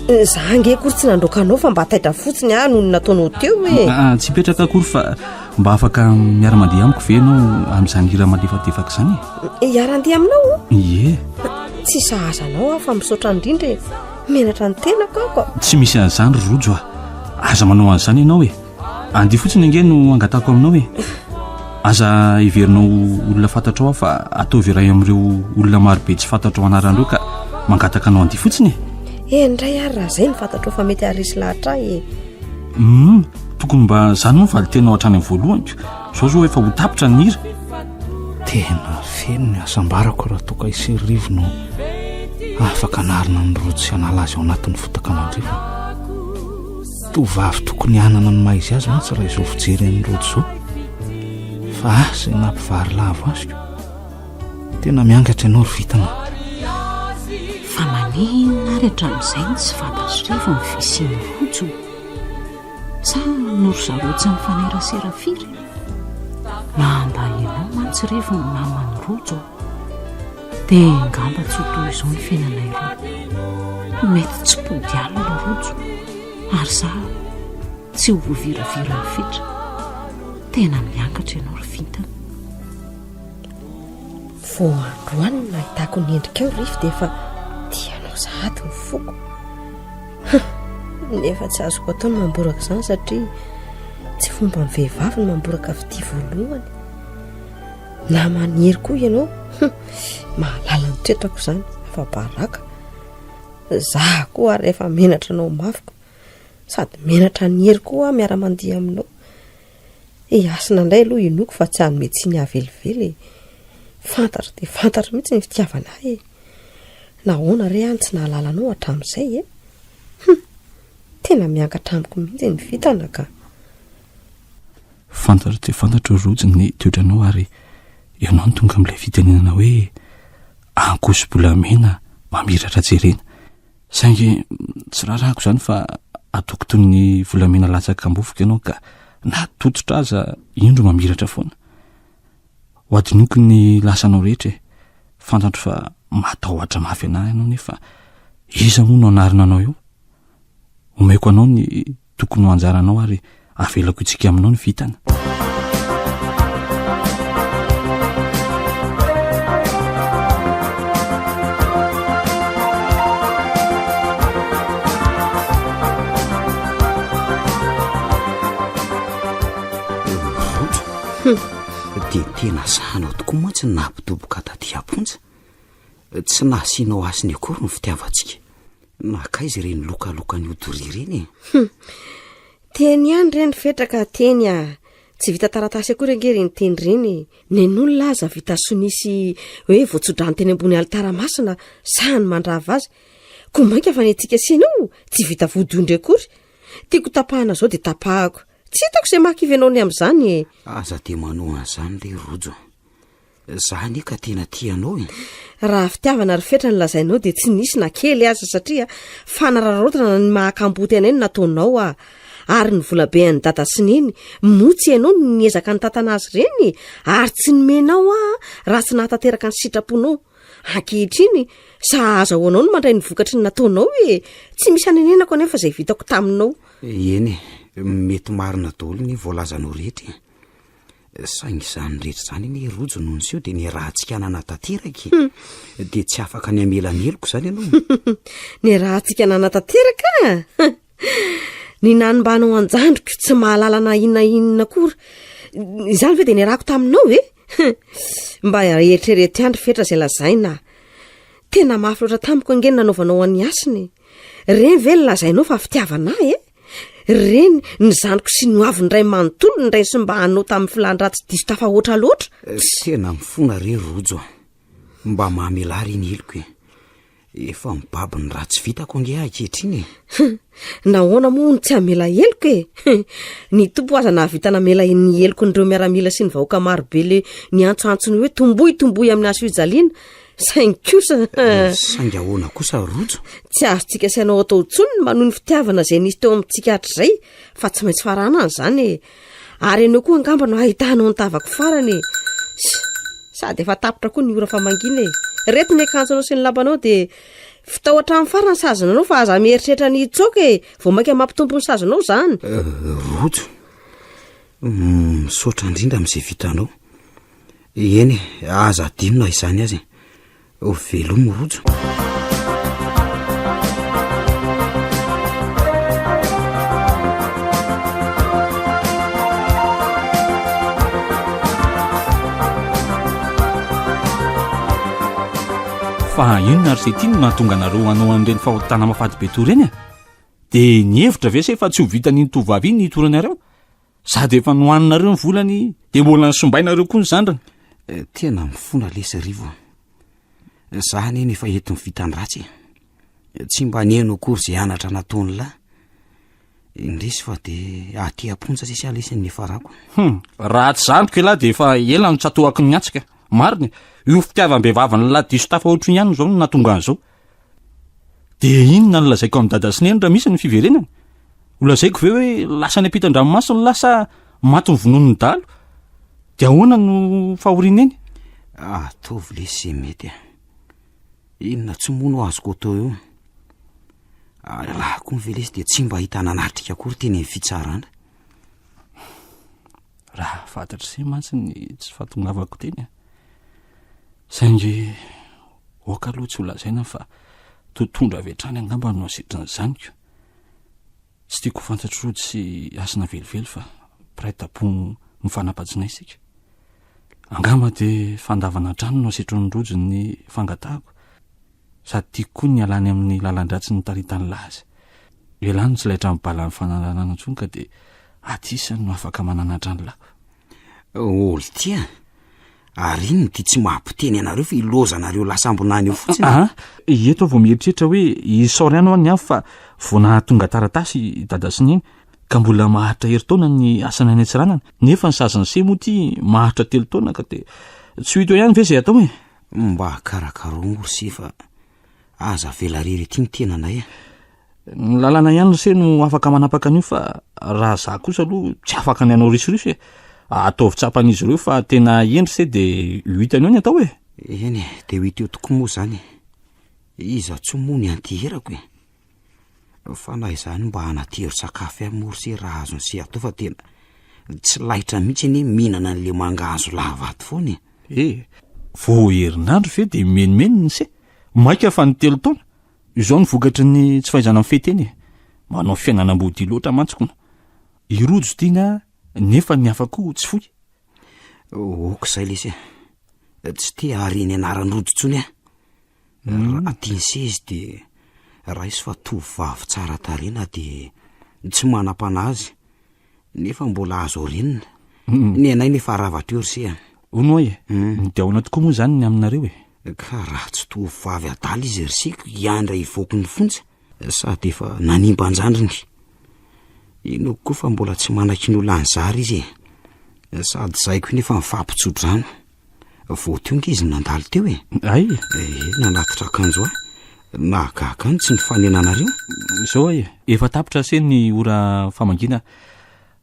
Za ange akory tsy nandroaka anao fa mba taitra fotsiny aho noho ny nataonao teo e. Ah, tsy hipetraka akory fa mba afaka miara-mandeha amiko ve ianao amin'izany hira malefadefaka izany e? Hiara-handeha aminao? Ie. Tsy sahaza anao aho fa misaotra indrindra e. Menatra ny tenako aho ka. Tsy misy an'izany ry Rojo a. Aza manao an'izany ianao e. Andia fotsiny ange no angatako aminao e aza heverinao olona fantatrao aho fa ataovy iray amin'ireo olona marobe tsy fantatrao anaran'ireo ka mangataka anao andia fotsiny e eh ndray ary raha zay ny fantatrao fa mety arisy lahatra ahy e um tokony mba zany moa vali tenao hatrany amin'ny voalohanyko zao zao efa ho tapitra ny hira tena feno ny asambarako raha toka iserivono afaka anarina ny rojo sy anala azy ao anatin'ny fotaka mandrivona Tovovavy tokony hanana ny maha izy azy mantsy raha izao fijery an'i Rojo izao. Fa ahy izay nampivarilavo azy ko. Tena miangatra ianao ry Vitana. Fa maninona ary hatramin'izay no tsy fantatr'irevo ny fisian'i Rojo? Sa noho ry zareo tsy mifanerasera firy? Maha mba ianao mantsy irevo ny maman'i Rojo. Dia angamba tsy ho toy izao ny fiainanay roa. Mety tsy mpody alina rojo, ary za tsy ho voaviraviran'ny fetra. Tena miangatra ianao ry vintana. Vao androany no nahitako ny endrikao Rify dia efa tianao sahady ny foko. Nefa tsy azoko atao ny mamboraka izany satria tsy fomban'ny vehivavy ny mamboraka fitia voalohany. Naman'i Hery koa ianao hum, mahalala ny toetrako izany, afa-baraka. Izaho koa ary efa menatra anao mafy ko. Sady menatra an'i Hery koa aho miara-mandihy aminao. I Hasina indray aloha inoako fa tsy hanome tsiny ahy velively e. Fantatro dia fantatro mihitsy ny fitiavana ahy e. Nahoana re aho no tsy nahalala anao hatramin'izay e? Hum, tena miankatra amiko mihitsy ny vintana ka. Fantatro dia fantatro ry Rojo ny toetranao ary ianao no tonga amin'ilay fitenenana hoe ankoso-bolamena mamiratra jerena. Saingy tsy raràko izany fa ataoko toy ny volamena latsaka am-bofoka ianao ka na tototra aza indro mamiratra foana. Ho adinoko ny lasanao rehetra e! Fantatro fa matahotra mafy anà ianao nefa iza moa no hanarina anao eo? Omeko anao ny tokony ho anjaranao ary avelako itsika aminao ny vitana dia tena sahanao tokoa mantsy ny nahampitoboka taty amponja tsy nahasianao asiny akory ny fitiavantsika Makaiza ireny lokalokan'io doria ireny e? Hum. Teny ihany ireny fetraka teny a. Ah. Tsy vita taratasy akory ange ireny teny ireny. Nen'olona aza vita sonia sy hoe voatsodrany teny ambony alitara masina sahany mandrava azy. Koa mainka fa ny antsika sena io tsy vita vodiondry akory. Tiako tapahana izao dia tapahako. Tsy hitako izay mahakivy anao ny amin'izany e. Aza dia manohana izany ilay rojo. Za anie ka tena tia anao e. Raha fitiavana ry fetra ny lazainao dia tsy nisy na kely aza satria fanararaotana ny maha kamboty anay no nataonao ah. Ary ny volabe an'i dada sy neny moa tsy ianao no niezaka nitantana azy ireny e. Ary tsy nomenao ah raha tsy nahatanteraka ny sitraponao. Ankehitriny sa azahoanao no mandray ny vokatry ny nataonao e. Tsy misy anenenako anefa izay vitako taminao. Eny e, mety marina daholo ny voalazanao rehetra e. Saingy izany rehetra izany anie i Rojo no niseho dia niaraha-tsikanana tanteraka e. Hmm. Dia tsy afaka ny hamela ny heloko izany ianao. Niaraha-tsikanana tanteraka? Ny nanimbanao an-jandriko tsy mahalala na inona inona akory. Izany ve dia niarahako taminao e? Mba eritrereto ihany ry fetra izay lazaina. Tena mafy loatra tamiko ange ny nanaovanao an'i Hasina e. Ireny ve ny lazainao fa fitiavana ahy e? Ry reny, ny zaniko sy ny ho avin'ny ray manontolo ny raiso mba hanao tamin'ny filan-dratsy diso tafahoatra loatra. Eh, tena mifona re Rojo a. Mba mamelà re ny heloko e. Efa mibaby ny ratsy vitako ange ahy ankehitriny e. Nahoana moa no tsy hamela heloko e? Ny tompo aza nahavita namela ny heloko nireo miaramila sy ny vahoaka marobe le niantsoantso ny hoe tomboy tomboy amin'ny hasoijaliana saingy kosa eh, saingy ahoana kosa rojo tsy azontsika sainao atao ntsony ny manohy ny fitiavana izay nisy teo amintsika hatr'izay fa tsy maintsy faranana izany e ary ianao koa angamba no hahitanao ny tavako farany e sady efa tapitra koa ny ora fa mangina e reto ny akanjonao sy ny lambanao dia fitao hatramin'ny farany sazonanao fa aza mieritreritra ny hitsoka e vao mainka mampitompo ny sazonao izany eh, rojo mm, misaotra indrindra amin'izay vitanao Eny e, aza adino na izany aza e. Velomy Rojo. Fa inona ary se ty no nahatonga anareo hanao an'ireny fahotana mafady be toa ireny e? Dia nihevitra ve se fa tsy ho vitan'iny tovovavy iny ny hitoranareo? Sady efa nohaninareo ny volany de mbola nisombainareo koa ny zandrany eh, tena mifona lesy rivo a eh, za anie no efa ento ny vitan-dratsy e eh, tsy mba neno akory zay anatra nataony lahy indresy fa de aty amponja sisy alesy ny efarako hum raha tsy zandriko lahy de efa ela no tsatohako ny antsika marina io fitiavam-behivavin'ny lahy diso tafa ohatry ny ihany zao no natonga an'izao Dia inona no lazaiko amin'i Dada sy Neny raha misy ny fiverenany? Ho lazaiko ve hoe lasa any ampitan-dranomaso ny lahy sa maty ny vononin'ny dahalo? Dia ahoana no fahorian'i Neny? Ataovy ilay izay mety e! Inona tsy moa no azoko atao eo? Ary raha koa ve ilay izy dia tsy mba hita nanatrika akory teny amin'ny fitsarana? Raha fantatr'ise mantsy ny tsy fahatongavako teny e! Saingy aoka aloha tsy ho lazaina fa totohondry avy hatrany angamba no asitry ny zaniko. Tsy tiako ho fantatr'i Rody sy Hasina velively fa mpiray tampo ny fanampajinay isika. Angamba dia fandavana hatrany no asetrin'i Rody ny fangatahako, sady tiako koa ny halany amin'ny lalan-dratsy nitaritany laza. Ialany ny tsy laitra mibalan'ny fanaraharana intsony ka dia aty isany no afaka mananatra ny lako. Oltia, ary inona ity tsy maha-mpiteny anareo fa ilozanareo lasambonany io fotsiny? Aa, ah, ah, eto vao mieritreritra hoe isaoriany ho an'ny hafa fa vao nahatonga taratasy i dada sy neny ka mbola maharitra herintaona ny asany any Antsiranana, nefa ny sazin'i Se moa ity maharitra telo taona ka dia tsy ho hita eo ihany ve izay atao e? Mba karakaro moa ry Se fa Aza avela rery ity ny tenanay a. Ny lalàna ihany ry se no afaka manapaka an'io fa raha za kosa aloha tsy afaka ny hanao risoriso e. Ataovy tsapan'izy ireo fa tena hendry se de ho hitany eo ny atao e. Eny e, de ho hita eo tokoa moa zany e. Iza tsoa moa ny anti-herako e. Fa na izany mba hanatevy sakafo ihany moa ry se raha azon'i se atao fa tena tsy laitra mihitsy anie mihinana an'ilay mangahazo lava ato foana e! E! Vao herinandro ve dia mimenimeny ny se? Maika fa ny telo taona! Izao no vokatry ny tsy fahaizana mifehy tena e! Manao fiainana amboadia loatra mantsy kona! I Rojo tiana nefa ny hafa koa tsy foy! Ok izay lesy a! Tsy te hahare ny anaran'i Rojo intsony aho! Raha tiany sy izy dia raiso fa tovovavy tsara tarehy na dia tsy manam-panahy aza, nefa mbola azo orinina. Hmm. Ny anay nefa rava teo ry se a. Hono hoy e, hmm. midaona tokoa moa izany ny aminareo e. Ka raha tsy tovovavy adala izy ry seko hiandra hivoaky ny fonja. Sady efa nanimba an-jandriny. Inoako koa fa mbola tsy manaky ny ho lany zary izy e. Sady zahiko iny efa mifampitso-drano. Vao tonga izy no nandalo teo e. Ay? Eh, nanatitra akanjo ahy. Nahagaga ahy ny tsy nifanenanareo. Izao ay, efa tapitra ase ny ora famangiana.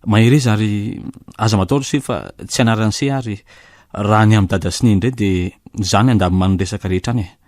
Mahereza ary aza matahotra se fa tsy anaran'i se ary raha ny amin'i Dada sy Neny indray dia zany andamin'ny resaka rehetra any e.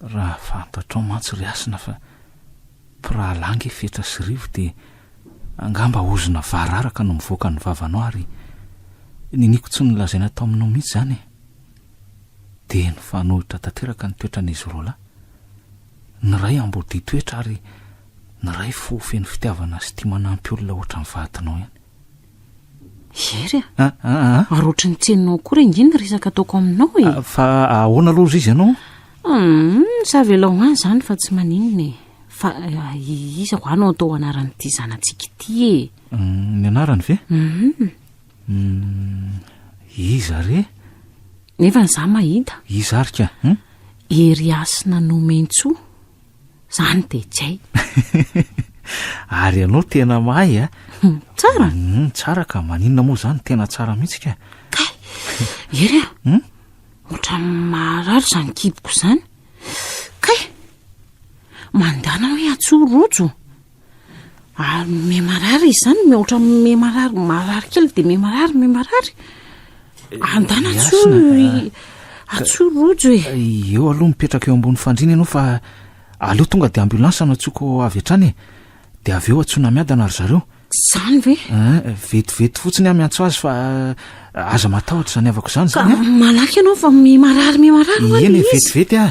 Raha fantatrao mantsy ry Hasina fa mpirahalahy ange fetra sy rivo dia angamba ozona vararaka no mivoaka ny vavanao ary niniako tsy nolazaina tao aminao mihitsy izany e! Dia nifanohitra tanteraka ny toetran'izy roa lahy. Ny iray ambodia toetra ary ny iray fo feno fitiavana sy tia manampy olona ohatran'ny vadinao ihany. Hery a! Ah, ah, ah. Ary ohatry ny tsy henonao akory ange ny resaka ataoko aminao e! Ah, fa ahoana aloha izy ianao? Hum, savelao ho any izany fa tsy maninona e. Fa ah, i- iza ho any no atao anaran'ity zanatsika ity e? Hum, Ny anarany ve? Mhm. Hum, Iza re? Nefa ny za mahita, Iza ary ka? Hum? Hery Hasina Nomentsoa. Zany DJ. Ary ianao tena mahay a. Hmm, tsara. Hmm, tsara ka, maninona moa zany tena tsara mihitsy ka. Kay, ery a. Hmm? Ohatra maharary zany kiboko zany. Kay, mandana hoe atsoa rojo. ary mime marary izany mihoatra mime marary marary kely dia mime marary mime marary andana atso atso rojo e eh, eo aloha mipetraka eo ambony fandrina ianao fa aleo tonga dia ambulance no atsoako avy hatrany e dia avy eo atsoana miadana ry zareo zany ve eh, vetivety fotsiny aho miantso azy fa Aza matahotra izany havako izany izany a. Malaky ianao fa mimarary mimarary ho'a ilay izy. Eny vetivety a.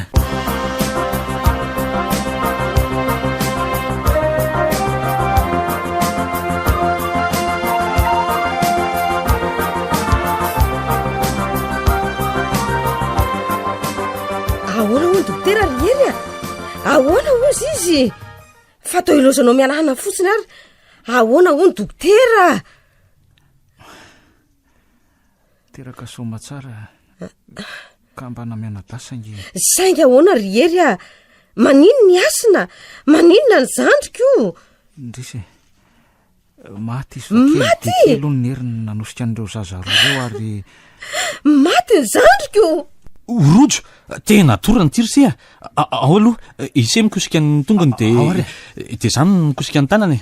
Ahoana hono dokotera ry Hery a? Ahoana hozy izy? Fa toa ilaozanao mialana fotsiny ary ahoana hono dokotera? Teraka soamatsara ka mba namianadahy saingy saingy ahoana ry hery a manino ny asina maninona ny zandriko ndrisy e. maty izy maty aloha ny heriny nanosika an'ireo zaza roa ireo ary maty ny zandriko rojo tena tora ny tirsy a ao aloha isemikosika ny tongony de de zany mikosika ny tanana e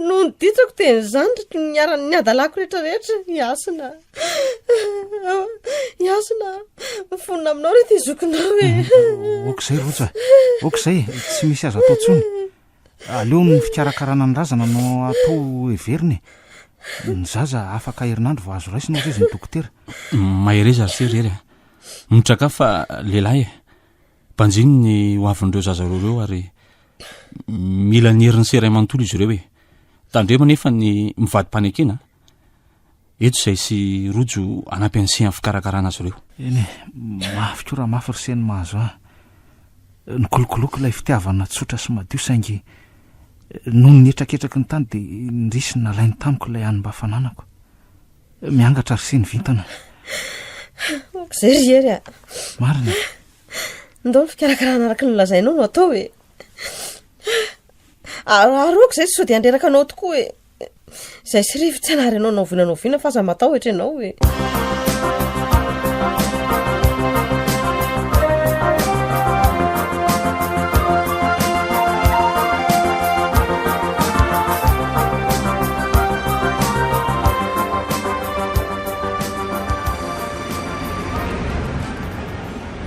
No nidintrako teny izany ry niaran'ny hadalako rehetra rehetra i Hasina. I Hasina, mifonona aminao reto i zokinao e. Mhm. Ok izay Roja, ok izay, tsy misy aza atao tsony. Aleo ny fikarakarana ny razana no atao heverina e. Ny zaza afaka herinandro vao azo raisina hozy izy ny dokotera. Mahereza ry sery ery a. Mitsakafo fa lehilahy e. Banjino ny ho avin'ireo zaza roa ireo ary mila ny herin'ny sera manontolo izy ireo e. Tandremo anefa ny mivadi-panekena eto izay sy Rojo hanampy an'i Sy amin'ny fikarakarana azy ireo. Eny e, mafy koa raha mafy ry Sy no mahazo ahy. Nikolokoloiko ilay fitiavana tsotra sy madio saingy noho ny hetraketraky ny tany dia indrisy nalainy tamiko ilay any mba fananako. Miangatra ry siny vintana. Monko izay ry Hery a. Marina. Ndao ny fikarakarana araka ny lazainao no atao e. Aroako izay sao dia handreraka anao tokoa e. Izay sy rivo tsy anary anao naoviana naoviana fa aza matahotra ianao e.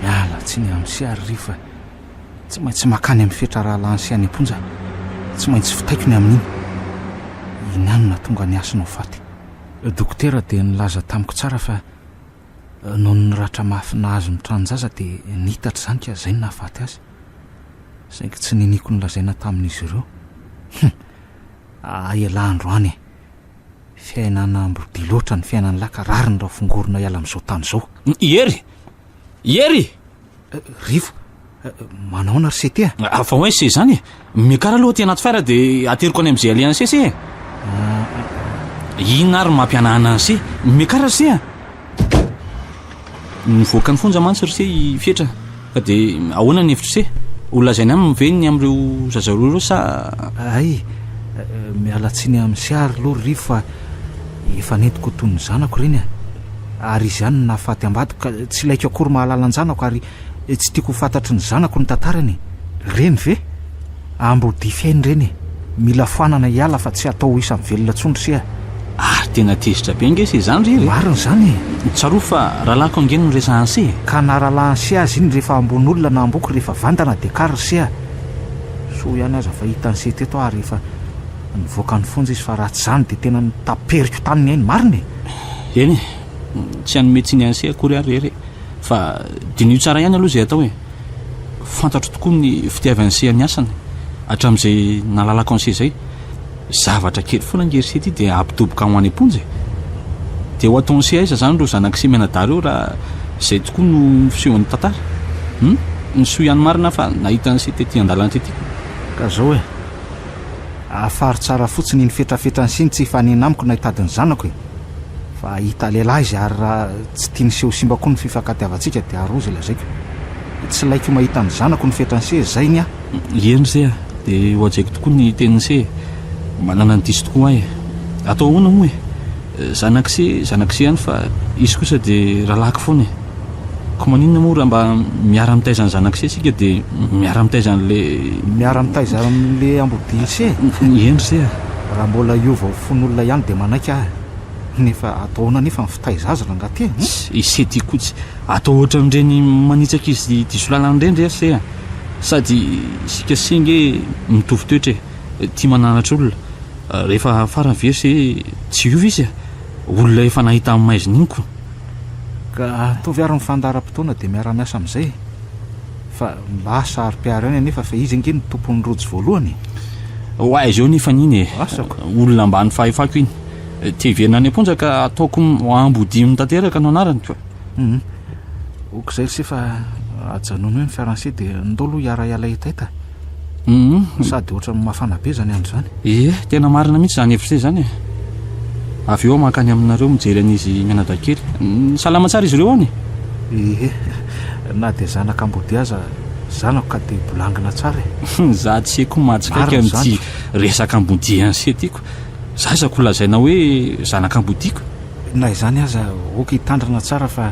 Miala tsiny amin'i Sia ary Rivo fa tsy maintsy makany amin'ny fetra rahalahiny Sia any am-ponja aho. Tsy maintsy vitaiko ny amin'iny. Iniano nahatonga ny hasina ho faty. Dokotera dia nilaza tamiko tsara fa noho ny ratra mafy nahazo ny tranon-jaza dia niitatra izany ka izay no nahafaty azy. Saingy tsy niniako ny lazaina tamin'izy ireo. Hum! Aa ialahy andro any e! Fiainana ambro be loatra ny fiainan'ny lahy ka rariny raha fongorona hiala amin'izao tany izao. I Hery! I Hery! Rivo, manaona ry Sete a? Fa hoe se izany e! Miakara aloha aty anaty fiara dia ateriko any amin'izay alehan'i Sese e! Inona ary no mampihanahana an'i Se? Miakara ry Se a! Nivoaka ny fonja mantsy r'ise i Fetra ka dia ahoana ny hevitr'ise? Ho lazainy aminy ve ny amin'ireo zaza roa ireo sa. Hay, miala tsiny amin'ise ary aloha ry fa efa nentiko toy ny zanako ireny e! Ary izy ihany no nahafaty ambadiko ka tsy ilaiko akory mahalala an-janako ary tsy tiako ho fantatry ny zanako ny tantarany e! Ireny ve? Ambo dify ny reny e! Mila foanana hiala fa tsy atao ho isan'ny velona tsony ry Sia. Ary tena tezitra be ange se izany ry hery e! Marina izany e! Tsarovy fa rahalahiko ange no resahan'i Sia e! Ka na rahalahin'i Sia aza iny rehefa ambony olona na amboko rehefa vandana dia kary ry Sia! Soa ihany aza fa hitan'i Sia teto aho ary efa nivoaka ny fonja izy fa raha tsy izany dia tena nitaperiko taminy ahy ny marina e! Eny e! Tsy hanome tsiny an'i Sia akory aho ry hery e! fa diniho tsara ihany aloha izay atao e! fantatro tokoa ny fitiavany seha ny asany hatramin'izay nalalako an'ise izay, zavatra kely foana nge ry se ity dia hampidoboka ho any am-ponja e! dia ho ataon'ise aiza izany ireo zanak'ise mianadahy ireo raha izay tokoa no fisehon'ny tantara? hum! ny soa ihany marina aho fa nahita an'ise tety an-dalana tety ko! ka izao e! afaro tsara fotsiny iny fetrafetran'ise ny tsy hifanena amiko na hitady ny zanako e! Fa hahita lehilahy izy ary raha tsy tiany seho simba koa ny fifankatiavantsika dia aroa izay lazaiko. Tsy ilaiko mahita ny zanako ny fetran'i se, izay ny ahy. Ie ny se a! Dia hohajaiko tokoa ny tenin'i se e! Manana ny diso tokoa aho e! Atao ahoana moa e! Zanak'i se, zanak'i se ihany fa izy kosa dia rahalahiko foana e! Koa maninona moa raha mba miara mitaiza ny zanak'ise isika dia miara mitaiza an'ilay. Miara mitaiza amin'ilay amboaben'ise e? Eny ry se a! Raha mbola hiova ho fon'olona ihany dia manaiky aho e! Nefa atao ahoana anefa ny fitaiza azy rangaha ity e? Ise ty koa tsy atao ohatran'ireny manitsaka izy ity solalany ireny re se a! Sady isika se nge mitovy toetra e! Tia mananatra olona. Rehefa farany ve se tsy hiova izy a! Olona efa nahita ny maizina iny ko! Ka ataovy ary ny fandaharam-potoana dia miara-miasa amin'izay e! Fa mba saro-piaro ihany anefa fa izy ange no tompon'ny rojo voalohany e! Oay zao nefa an'iny e! Asako! Olona ambany fahefako iny! Te hiverina any am-ponja ka ataoko ambodiany tanteraka no anarany! Hum! Ok'izay lse fa ajanony eo ny fiaran'se dia ndao aloha hiara-hiala hetaita! Uhm, sady ohatran'ny mafana be izany andro izany. Ie, tena marina mihitsy izany hevitra izany e. Avy eo aho mankany aminareo mijery an'izy mianadahikely. Uhm, salama tsara izy ireo any e? Ie, na dia zanaka ambodihy aza, zanako ka dia bolangina tsara e. Uhm, za tse koa mahatsikaiky an'ity resaka ambodihy anse ty ko. Za isaky ho lazaina hoe zanaka ambodihy ko. Na izany aza, ok hitandrina tsara fa.